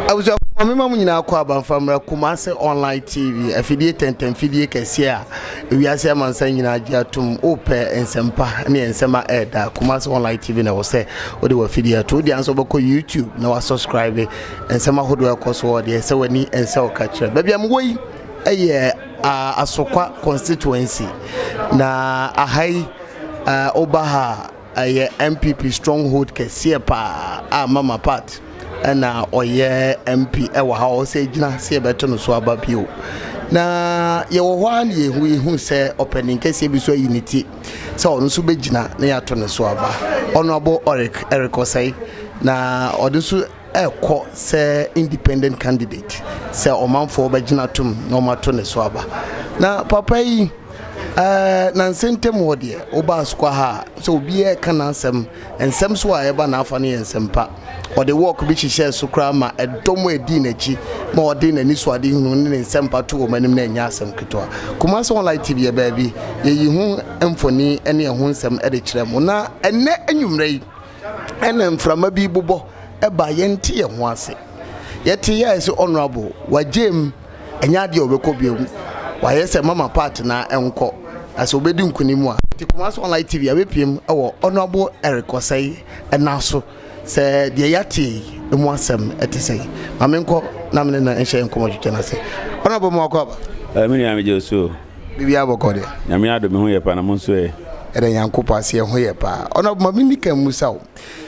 abusua maame ma mu nyinaa kɔ abanfa mmerɛ kumase online tv afidie tɛntɛn fidie kɛseɛ a ewiase amansan nyinaa gye atom wopɛ nsɛmpa ne nsɛm a ɛreda kumase online tv na ɛwɔ sɛ wode wafidie ato wode anso wobɛkɔ youtube na wasubscribe nsɛm ahodoɔ ɛkɔ so wɔ deɛ ɛsɛ w'ani ɛnsɛ wo ka kyerɛ baabi a mewɔ yi ɛyɛ Asokwa constituency na aha yi woba ha a ɛyɛ NPP strong hold kɛseɛ paa a Mama Pat na ɔyɛ MP wɔ ha ɔsɛ gyina sɛ yɛbɛto no so aba bio na yɛwɔ hɔ a na yɛhu yɛhu sɛ ɔpanin kɛseɛ bi so ayi ne ti sɛ ɔno nso bɛgyina na yɛato no so aba ɔno abo Eric Eric Osei na ɔde nso ɛkɔ sɛ independent candidate sɛ ɔmanfoɔ bɛgyina tom na ɔmato ne so aba na papa yi ɛɛ nanse ntam wɔ deɛ wobaa sukwa ha a sɛ obiara ɛka n'asɛm nsɛm so a ɛba n'afa no yɛ nsɛm pa ɔde wɔɔk bi hyehyɛɛ so koraa ma ɛdɔm a ɛdii n'akyi ma ɔde n'ani so ade hunu ne ne nsɛm pa to wɔn anim na ɛnyɛ asɛm ketewa Kumasi Online TV yɛ baabi yɛyi ho mfoni ne ɛho nsɛm de kyerɛ mo na ɛnɛ anwummerɛ yi ɛna mframa bi bobɔ ba yɛnte yɛn ho ase yɛte yɛ ayɛ sɛ honorable wagye mu ɛnyɛ adeɛ ɔbɛkɔ bio mu wayɛ sɛ mama part na ɛnkɔ na sɛ ɔbɛdi nkunim a te Kumasi online tv abɛpiem ɛwɔ honorable Eric Osei ɛna so sɛ deɛ yɛate yi ɛmu asɛm ɛte sɛ ma menkɔ na mene no nhyɛ nkɔmɔ twitwa no ase honorable ma wakɔ aba ɛmi nua megye so Biribiara bɔkɔ deɛ. Nyame adom me ho yɛ paa na mo nso ɛ? Ɛda Nyankopɔn ase yɛ ho yɛ paa. Honourable ma me nika mmusa wo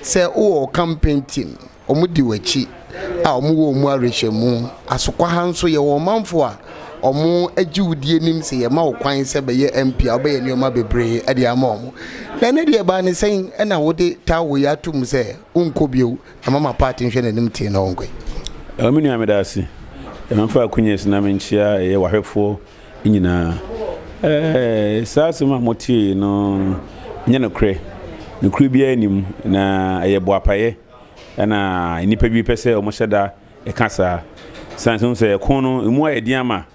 sɛ wo wɔ wo campaign team wɔn di w'akyi a wɔn wɔ wɔn mu awerɛhyɛmu asokwa ha nso yɛ wɔ ɔmanfoɔ a wɔn agye wo die nim sɛ yɛ ma wo kwan sɛ bɛyɛ MP a wobɛyɛ nneɛma bebree ɛde ama wɔn na ɛnɛ deɛ ɛbaa ne sɛn ɛna wode taa wo yɛ ato mu sɛ wo nkɔ bio Ɛma ma paati nhwɛ nanim tee na ɔnkɔe. Ɛwɔ me nua meda ase ma fa akunyes na menkyia ɛyɛ wahwɛfoɔ nyinaa ɛɛ saa asɛm a motiee no nyɛ nokorɛ nokorɛ biara nnim na ɛyɛ boapayɛ ɛna nnipa bi pɛsɛ ɔmo hyɛda ɛka saa sane sɛ ɔmo sɛ ɛko no ɛmu ayɛ den ama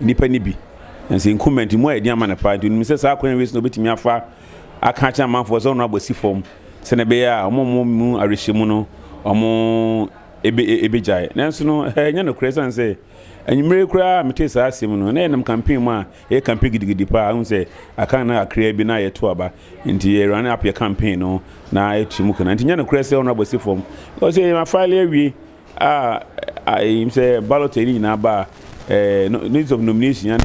nnipa no bi. Nanso nkumaa nti, mu ayɛ den ama no paa. Nti onim sɛ saa akwan wei so na obetumi afa aka akyerɛ amanfoɔ sɛ ɔno abɔ si fam sɛnea ɛbɛyɛ a wɔn a wɔn mu awerɛhyɛ mu no wɔn ebe ebegyae. Nanso no, ɛnyɛ nokorɛ esiane sɛ anwummere koraa metee saa asɛm no, na yɛnam campaign mu a yɛyɛ campaign gidigidi paa. Ahu sɛ aka no kakraa bi na yɛto aba. Nti yɛ run up yɛ campaign no na yɛto mu kena. Nti nyɛ nokorɛ sɛ ɔno abɔ si fam. Ɔsɛ yɛn afile awie. a ɛyim sɛ ballot ɛyi nyinaa ba a notice of nomination ya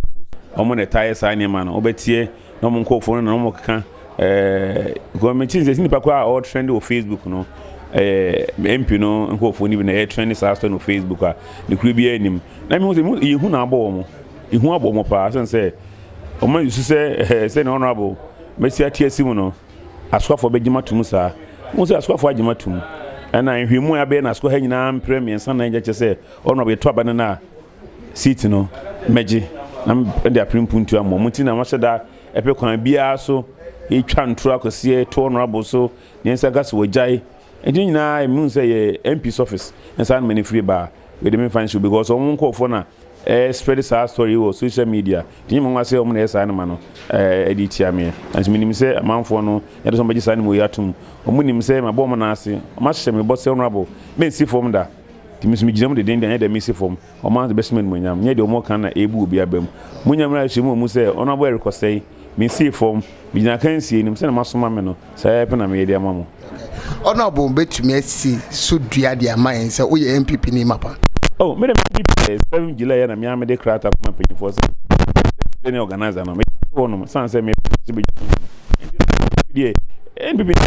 wɔn na ɛtaa yɛ saa nneɛma no wɔbɛteɛ na wɔn nkorɔfoɔ no na wɔn keka ɛɛ gɔmɛnti nsɛsi nipa koraa a ɔretrɛn wɔ facebook no ɛɛ mp no nkorɔfoɔ no bi na ɛyɛ trɛn saa sɛ no facebook a ne kuro biara nim na mi ho sɛ yɛ hu na abɔ wɔn ehu abɔ wɔn paa sɛn sɛ wɔn ayusu sɛ ɛɛ sɛ na honourable mɛsi ate asi mu no. Asuafoɔ bɛgye mo atom saa? Wohu sɛ asuafoɔ agye mo atom. Ɛna nhwehwɛmu a yɛabɛyɛ no asukɔ ha nyinaa mprɛ mmiɛnsa nnan gya kyerɛ sɛ wɔnom a wɔyɛto aba no no a seat no mɛgye na mede apere mpuntuo ama wɔn. Mo nti na mahyɛ da ɛpɛ kwan biara so yɛtwa ntoro akɔseɛ to honourable so deɛ nsa ka so wɔgyae. Nti ne nyinaa mehunu sɛ ɛyɛ MP's office ne saa na m'ani firi baa. Wei de me nfa nsi because ɔmo nkorɔfoɔ na ɛɛ spread saa story yi wɔ social media nti nyɛ me nwa sɛ ɔmo na ɛyɛ saa nneɛma no ɛɛ de tia meɛ nanso me nim sɛ amanfoɔ no yɛde sɛ ɔmo bɛgye saa nneɛma wei atum ɔmo nim sɛ mabɔ ɔmo nan ase ɔmo ahyehyɛ me bɔ sɛ honourable me nsi fam da nti me nso me gyina mu deden deɛ nyɛ deɛ me si fam ɔmo ara de bɛhyɛ me animuonyam nyɛ deɛ ɔmo ka na ɛɛbu obi aba mu mo nyɛ mmerɛ ahyɛ mu wɔ mu sɛ honourable Eric Osei me nsi fam. Migyina akansie anim, sɛdeɛ moasoma me no, saa ara pɛ na meyɛ de ama mo. Honourable bɛtumi asi so dua de ama yɛn sɛ woyɛ NPP ni mapa? Oh, me deɛ me NPP deɛ, seven July yɛ na me ara mede krataa kɔma mpanyinfoɔ sɛ president ne organiser no, meyɛ ato hɔ nom, ɛsiane sɛ mepɛ sɛ bɛdwane me no nti, NPP deɛ, NPP deɛ,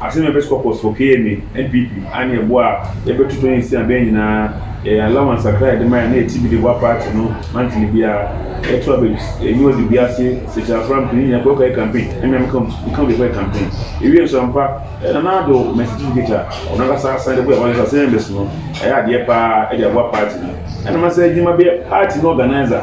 Asɛm a ɛbɛsi kɔ kɔ so kɛyɛ me NPP ane ɛboɔ a yɛbɛto tɔn nsia abɛn nyinaa yɛ yɛn allowance kakra a yɛde ma yɛn na yɛte bi de boa party no monthly biara. Yɛto aba bi, yɛnye ɔde bi ase, Sekyerɛ Afram pii no nyinaa kɔ kɔyɛ campaign, ɛne me a meka meka wo deɛ kɔyɛ campaign. Yɛwie nso ampa, Nana Addo ma certificate a ɔno ankasa asan de boa yɛn Ɔyɛ Assembly members no, ɛyɛ adeɛ paa de aboa party no. Ɛna masa adwuma bɛyɛ party no organiser.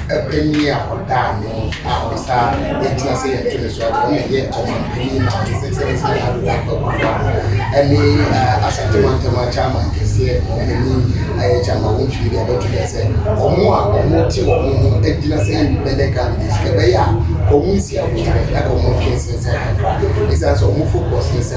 panyin a ɔda ano a ɔsa yɛtena sɛ yɛto ne so ɔno na ɛyɛ ɔman panyin na ɔte sɛ sɛ sɛ ado da kɔkɔfa ɛne asante mantam akyɛ aman kɛseɛ ɔmanyin ayɛ kyɛ ama wɔn tumi deɛ bɛto dɛ sɛ wɔn a wɔn te wɔn ho agyina sɛ independent candidates ɛbɛyɛ a wɔn nsi abotire ɛna wɔn twe nsensɛn kakra ɛsiane sɛ wɔn focus ne sɛ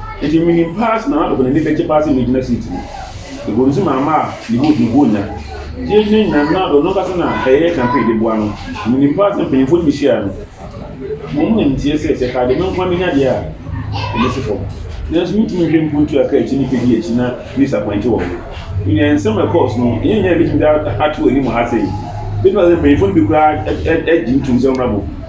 Enti minim paa sɛ Nana Adoko n'ani bɛgye paa sɛ megyina siiti no. Mebɔɔ ne su ma maa ne vote no bɔɔ nya. Gyee gyina nyinaa no, Nana Addo no ankasa na ɛyɛɛ campaign de boa no. Minim paa sɛ mpanyimfo no behyiae no, wɔn na nteɛ sɛ sɛ ɛkaa deɛ me nko ara menya deɛ a, wɔbesi fam. Nanso mintumi nhwɛ mpo ntua ka akyi nnipa di akyi na me disappointe wɔn. Me nua, nsɛm a ɛkɔɔ so no, ɛnyɛ nea ebetumi de ato anim ha sɛɛ. Ebetumi aba sɛ mpanyimfo no bi koraa gye ntom sɛ wɔmmra boom.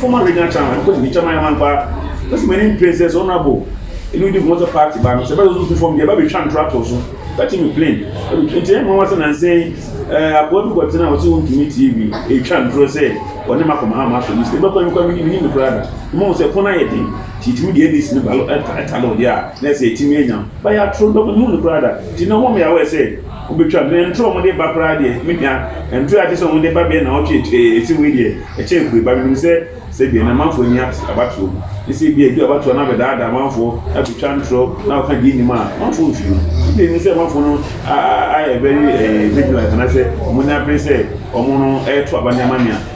Former regional chairman ɛkɔ deputy chairman yɛ amampa na sɛ m'ani mpere sɛ sɛ honourable ɛnu di nkɔmɔ sɛ party ba no sɛ ɛbɛsɛ ɔso tu fam deɛ ɛba bɛtwa ntorɔ ato so bɛte me plain nti ɛyɛ nwanwa sɛ nansa yi ɛɛ akoa bi kɔtena ɔse wontumi tie bi ɛtwa ntorɔ sɛ ɔne ma kɔma ha ma asɔ list ɛbɛkɔ ɛmekɔ ɛmene menim no koraa da mmom sɛ ɛkɔn ayɛ den nti ɛtumi deɛ list no balo ɛtalo deɛ a na ɛsɛ ɛtumi anya bayɛ atoro dɔm menim no koraa da nti na wɔn yɛ awɛ sɛ Wobɛtwa me. Na nturo a wɔde ba koraa deɛ, me nua, nturo a gye sɛ wɔde ba bɛyɛ nnawɔtwe akyire yi, ɛsɛ wei deɛ, ɛkyɛ apueeɛ. But menim sɛ, sɛdeɛ na amanfoɔ nni ate abatoɔ mu, ne sɛ ebia ɛdu abatoɔ no abɛdaadaa amanfoɔ, abɛtwa nturo, na wɔka deɛ nnim a, amanfoɔ nhwɛ mu. Ebia ɛnim sɛ amanfoɔ no ayɛ very vigilant, anaasɛ wɔn ani abere sɛ wɔn no reto aba nneɛma nneɛma.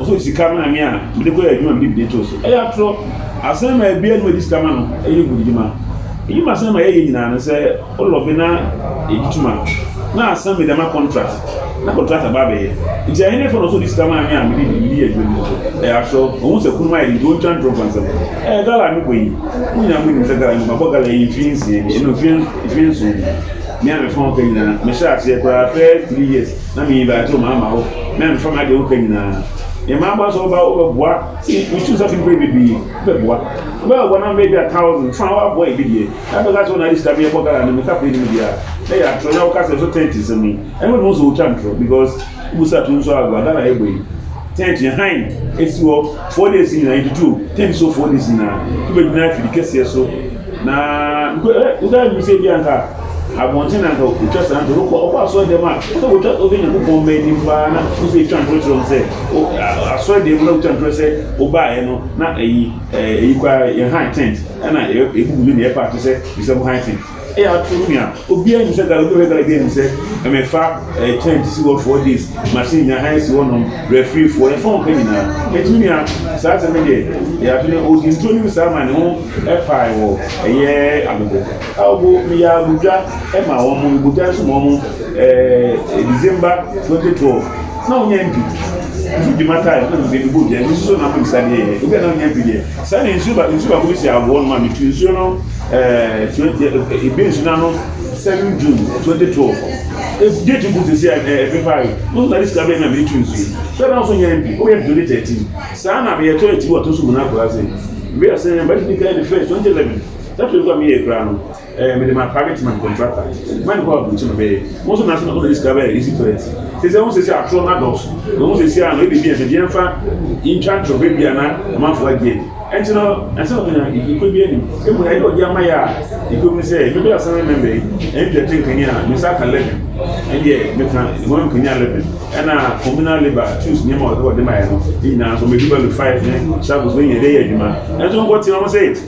Ɔsɔ sika ma me a, mede kɔyɛ adwuma a mede bidie too so. Ɛyɛ atorɔ. Asɛm a ɛbue anom a ɛde sika ma no yɛ mudidwuma. Edwuma a Sam yɛeɛ nyinaa no, sɛ wolɔbe na ɛgye tom a, na Sam de ama kɔntrat, na kɔntratɔ aba abɛyɛ. Enti ɛhenefa na ɔsɛ ɔde sika ma me a mede bidie adwuma no too so? Ɛyɛ atorɔ. Ɔhu sɛ kununom ayɛ den nti ɔntwa ntorɔ mfa nsɛm. Ɛɛ, gala a mebɔ yi, mo nyinaa monim sɛ gala mebɔ. Mabɔ gala yi mfeɛ nsia bi, ɛnam mfeɛ nson bi. Me a mefa wo ka nyinaa, mehyɛɛ aseɛ koraa first three years. na meyi baa ntam ama wo, na mfa m'ade a wopɛ nyinaa. Yɛn mma aboa sɛ woba wobɛboa, metu sa fi mpere bebree, wobɛboa. Wobɛboa na mbɛyɛ bi a thousand, fa woaboa ebi deɛ, na bɛka sɛ wona de sika meyɛ bɔ gara no, meka pere no mu biara, na yɛ atoro, na woka sɛ so tent nsɛm yi, ɛno na wo sɛ wotwa ntoro, because wobu sa to nso agoa, Ghana yɛbɔ yi. Tent no hann si hɔ four days nyinaa, yɛtutu tent so four days nyinaa. Wobɛgyina afiri kɛseɛ so na wotwa nim sɛ bi anka abɔnten na anka wotwa saa ntorɔ wokɔ ɔkɔ asɔre dɛm a wosɛ wotwa wobɛ nyankopɔn mma anim paa na wosɛ twa ntorɔ kyerɛ sɛ asɔre dɛm na wotwa ntorɔ sɛ wobaeɛ no na ɛyi ɛyi kwa yɛn hann tent ɛna ɛbubu ne na ɛpaakye sɛ bisɛ mo hann tent Ɛyɛ ato nua obiara nim sɛ gala obi bɛ gala game sɛ ɛmɛfa ɛɛ tent si hɔ four days machine nya han si hɔ nom referee foɔ yɛn fɔn ka nyinaa ɛto nua saa sɛ mi deɛ ɛyɛ ato nua odi ntuo nim saa ma ne ho ɛpaa ɛwɔ ɛyɛ agogo agogo mi yɛ agudwa ɛma wɔn mo ebuta nso ma wɔn ɛɛ december twenty twelve na wɔn nyɛ mpi nso dwuma taa ɛna mi de mi bɔ dwa nso na mo nsa deɛ obi a na wɔn nyɛ mpi deɛ. Saa na nsuo ba nsuo baako bi si aboɔ no ma mi tu nsuo no ɛɛ twenty ɛɛ ebi nsuo n'ano seven june twenty twelve ebi etu gu sisi a ɛɛ ebi paa yi mo na ne sika bɛyɛ na mi tu nsuo sɛ na ɔso nyɛ bi o yɛ twenty thirteen saa na mi yɛ tɔ eti wɔ to so mu na akora se ebi yɛ sɛ ɛbɛ ti di kan ne fɛ twenty eleven sɛ to ekura mi yɛ ekura no. ɛɛ mede ma private man contractor man kɔ abutu no bɛyɛ mo nso nanso na ɔna de sika bɛyɛ easy toilet te sɛ wɔn sɛ atorɔ no adɔɔso na wɔn sɛ si ano ebi bi ɛsɛ deɛ nfa ntwa ntorɔ bɛ bi a na ɔmanfo agye ɛnti no ɛsɛ na ɔnya ekuro bi anim emu na ɛyɛ ɔde ama yɛ a ekuro mu sɛ ebi bi asan mɛmɛ yi ɛnti ɛte nkanyi a ne nsa aka lɛbi ɛdeɛ meka wɔn nkanyi a lɛbi ɛna communal labour tools nneɛma ɔde ɔde ma yɛ no ne nyinaa nso mɛ bi ba lu five ne sago so yɛ ɛde yɛ adwuma ɛnso nkɔ te wɔn sɛ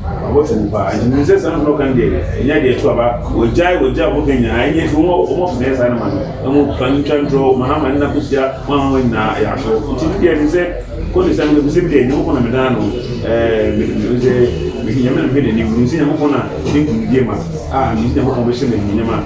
Wɔabɔto mu paa, nti menim sɛ saa nsɛm a wɔka no deɛ, ɛnyɛ adeɛ to aba. Wɔgyae wɔgya a wɔka nyinaa, ɛnyɛ nti wɔn a wɔpɛ sɛ ɛyɛ saa no ma no. Ɛho mfa ntwa ntorɔ, wɔn ahama nna kɔsia, wɔn ahɔhoɔ nyinaa yɛ atorɔ. Nti me deɛ, ɛsɛ sɛ kɔ ne saa mu, ɛfiri sɛ me deɛ, Nyankopɔn na medaa no ɛɛ, me, me sɛ, mehwɛ Nyame na mehwɛ n'anim. Menim sɛ Nyankopɔn na ne nkonimdie ma, a, megye Nyankopɔn bɛhyɛ me animuonyam a.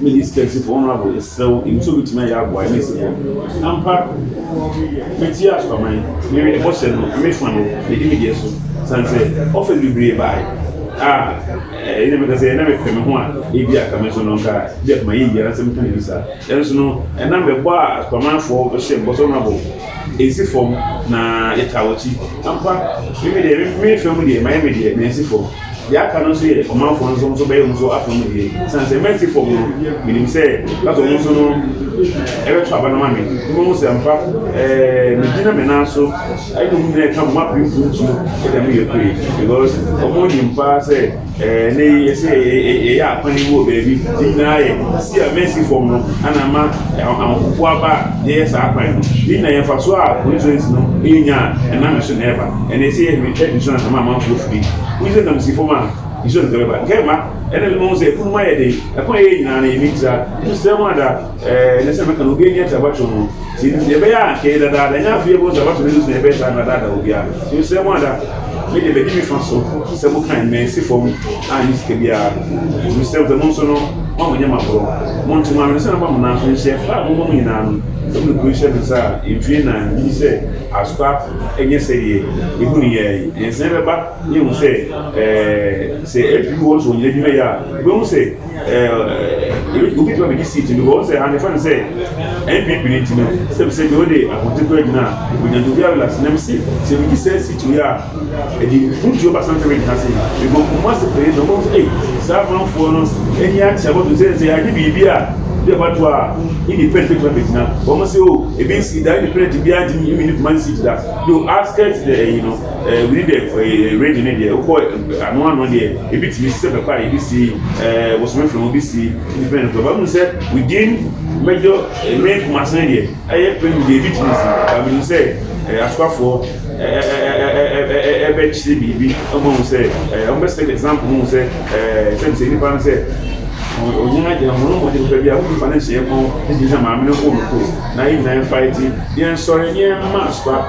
Middle East Texas for Honorable Yɛsrɛ wo nim sɛ wobɛtumi ayɛ aboa ɛne ɛsɛ bɔ mu ampa Metie asoaman Mewie ne bɔhyɛ no na mefa no Medi me deɛ so Sane sɛ offers bebree bae a Ɛnna meka sɛ na mepɛ me ho a Ebia anka me nso no anka Ebia koma yɛ yie anaasɛ meka biribi saa Nanso no ɛnna mebɔ a asoamanfoɔ hyɛ bɔ sɛ Honorable Ɛnsi fam na yɛtaa w'akyi. Ampa, me me deɛ, me me fa mu deɛ, mayɛ me deɛ, na ɛnsi fam. Deɛ aka no nso yɛ ɔmanfoɔ no nso, wɔn nso bɛyɛ wɔn nso afa mu deɛ. Ɛsiane sɛ mansi fam no, menim sɛ ɛbɛtɔ wɔn nso no, ɛbɛtɔ aba no ma me. Mobɛhu sɛ ampa, ɛɛ, megyina me nan so, ɛne wɔn nyinaa ɛka mo, moapere mpuntuo de ama yɛn pue, because wɔnim paa sɛ Ɛnnɛ yi, ɛsɛ sɛ yɛyɛ akɔneaba wɔ baabi di na ayɛ si a mɛsi fam no na ama ahopopo aba a yɛyɛ saa kwan no. Yei nyinaa yɛ mfasoɔ a constituency no nya a ɛnam yɛn so na ɛba. Ɛnnɛ sɛ yɛhwɛ Twere district no a ɛma amanfoɔ firi. Wohu sɛ nam si fam a nsuo no tumi ba. Nkae mma, ɛnnɛ mema wohu sɛ afunumu ayɛ den. Ɛkwan a yɛyɛ nyinaa no yɛmintira. Mesrɛ mo ara daa. Ɛɛ, ne sɛ mɛka no, obi ani akyɛ abatoɔ no. Ti nti, deɛ ɛbɛyɛ a anka ɛyɛ dadaada, ɛnyɛ afei yɛbɛhu sɛ abatoɔ no nso na ɛbɛyɛ saa na dadaada wɔ biara. Ti mesrɛ mo ada, me deɛ madi me fa so, sɛ mo kan, mansi fam annye sika biara no. Ti mesrɛ mo sɛ mo nso no, mo a mo nyɛ m'aborɔ, mo nto m'ano, ne sɛ mɛma mo nan so nhyɛ, fa a mo bɔ mo nyinaa no, sɛ mo de kuro yi hyɛ me nsa a, mfie nnan, megye di sɛ Asukwa nyɛ sɛdeɛ ɛhu no yɛɛ yi. Nsɛn bɛba, na yɛahu sɛ, ɛɛ, sɛ ɛpiri hɔ nso wɔn nyinaa adwuma yɛ a, wobɛhu sɛ. obi tuma mi di seat no wɔn sɛ anefa no sɛ npp ne ti no sɛ mi sɛ mi o de akote kura gyina onyanko bi awila si na mi si sɛ mi di sɛ seat yi a ɛdi mu ti o ba san kɛmɛ gyina se mi bɔ nkɔmɔ ase pere na wɔn sɛ ee saa amanfoɔ no ɛni akyɛ bɔ to sɛ sɛ yɛade biribi a de ɛba to a ɛni pɛn pɛtuma bɛ gyina wɔn sɛ o ebi si da ɛni pɛn ti bi a ti mi mi ni kuma si gyina do askɛt dɛ ɛyi no. Eh, wini deɛ eh, eh, radio ne deɛ wokɔ eh, ano ano deɛ ebi tumi sɛ pɛpɛ a ebi si eh, bosome fam ebi si ndependent fam bamu sɛ within mɛjɔ eh, main kumase ne deɛ ɛyɛ pɛn deɛ ebi tumi si bamu ni sɛ eh, asokafoɔ ɛbɛkyerɛ biribi ɔmo ho sɛ eh, ɔmo bɛ sɛ example ho sɛ eh, sɛ bisɛ nipa no sɛ onyina gyina ho no mo de nipa bi a wodi fa ne nhyɛ ɛmo ne gyina maame no kɔn mu kuro na yɛ nyinaa nfa eti yɛn nsɔre yɛn mma asoka.